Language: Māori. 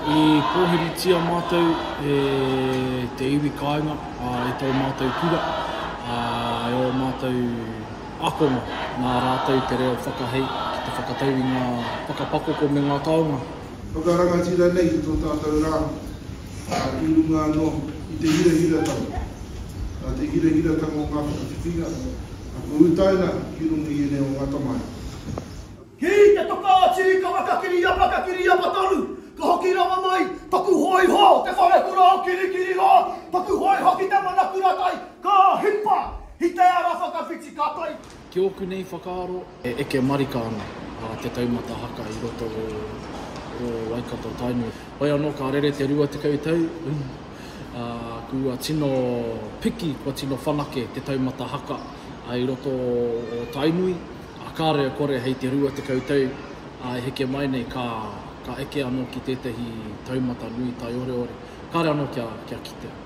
I pōhiritia mātou e te iwi kāinga i tō mātou kura, e ō mātou ākonga, nā rātou te reo whakahei ki te whakatau i ngā whakapakoko me ngā taonga. Whakarangatira nei i tō tātou rā. ā, i runga anō i te hirahiratanga, nā te hirahiratanga o ngā whakawhitinga, ako utaina ki runga i ēnei o ngā tamaiti. Ki te toka a Tirikawa ka kiriapa, ka kiriapa tonu, ka hoki rawa mai taku hōiho, te wharekura o Kirikiriroa, taku hōiho ki te mana kuratai, ka hipa i te ara whakawhiti ka tae. Ki ōku nei whakaaro, E eke marika ana te taumata haka i roto o Waikato Tainui. Hoi anō ka rere te rua tekau tau, ā, kua tino piki, kua tino whanake te taumata haka i roto o Tainui, ā, kāre e kore hei te rua tekau tau e heke mai nei ka, ka eke anō ki tētahi taumata nui taioreore. Kāre anō kia, kia kitea.